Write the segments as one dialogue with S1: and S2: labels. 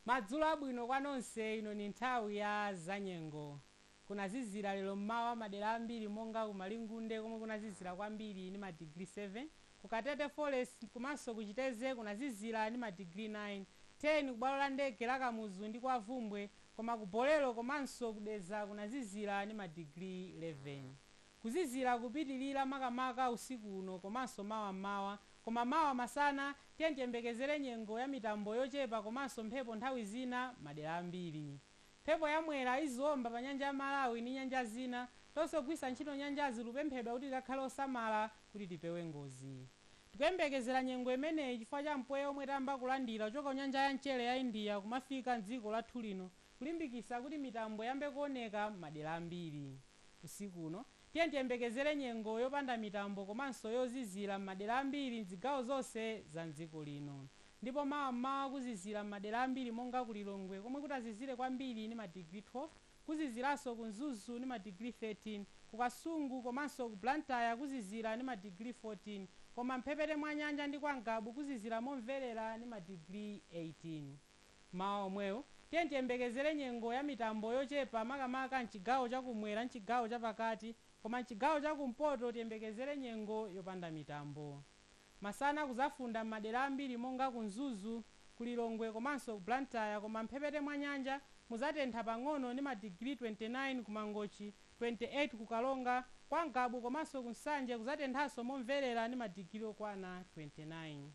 S1: Madzulo abwino kwa nonse ino ni nthawi ya zanyengo. Kunazizira lero m'mawa madera ambiri monga ku Malingunde komwe kunazizira kwambiri ni ma degree 7, ku Katete Forest komanso ku Chitedze kunazizira ni ma degree 9, 10 ku bwalo la ndege la Kamuzu ndi kwa Bvumbwe koma ku Bolero komanso ku Dedza kunazizira ni ma degree 11. Kuzizira kupitilira makamaka usiku uno komanso mawa m'mawa koma mawa masana tiyeni tiyembekezere nyengo ya mitambo yochepa komanso mphepo nthawi zina madera ambiri. Mphepo ya Mwera iziomba pa nyanja ya Malawi ni nyanja zina. Tonse ogwiritsa ntchito nyanjazi tikupemphedwa kuti tikhale osamala kuti tipewe ngozi. Tikuyembekezera nyengo imeneyi chifukwa cha mpweya omwe tayamba kulandira kuchoka ku nyanja ya mchere ya India kumafika m'dziko lathu lino kulimbikitsa kuti mitambo iyambe kuoneka m'madera ambiri. Usiku uno, tiyeni tiyembekezere nyengo yopanda mitambo komanso yozizira m'madera ambiri m'zigawo zonse za m'dziko lino. Ndipo mawa m'mawa kuzizira m'madera ambiri monga ku Lilongwe komwe kutazizire kwambiri ni madigiri 12, kuziziranso ku Mzuzu ni madigiri 13, ku Kasungu komanso ku Blantyre kuzizira ni madigiri 14 koma m'mphepete mwa nyanja ndi kwa Ngabu kuzizira momverera ni madigiri 18. Mmawa omwewu, tiyeni tiyembekezere nyengo ya mitambo yochepa makamaka m'chigawo cha kumwera m'chigawo cha pakati koma m'chigawo cha kumpoto tiyembekezere nyengo yopanda mitambo. Masana kuzafunda m'madera ambiri monga ku Mzuzu, ku Lilongwe komanso ku Blantyre koma m'mphepete mwa nyanja muzatentha pang'ono ni madigiri 29 ku Mangochi, 28 ku Karonga, kwa Ngabu komanso ku Nsanje kuzatenthanso momverera ni madigiri okwana 29.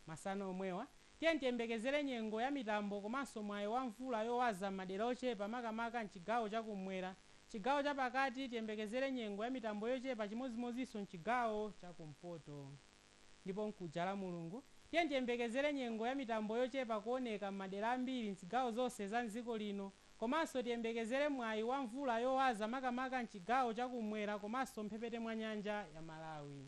S1: Masana omwewa, tiyeni tiyembekezere nyengo ya mitambo komanso mwayi wa mvula yowaza m'madera ochepa makamaka m'chigawo cha kumwera. Chigawo cha pakati tiyembekezere nyengo ya mitambo yochepa chimodzimodzinso m'chigawo cha kumpoto. Ndipo mkuja Lamulungu, tiyeni tiyembekezere nyengo ya mitambo yochepa kuoneka m'madera ambiri m'zigawo zonse za m'dziko lino komanso tiyembekezere mwayi wa mvula yowaza makamaka m'chigawo cha kumwera komanso mphepete mwa nyanja ya Malawi.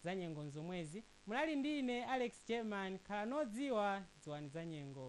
S1: Zanyengo nzomwezi, munali ndi ine Alex Jerman, khalani odziwa, dziwani zanyengo.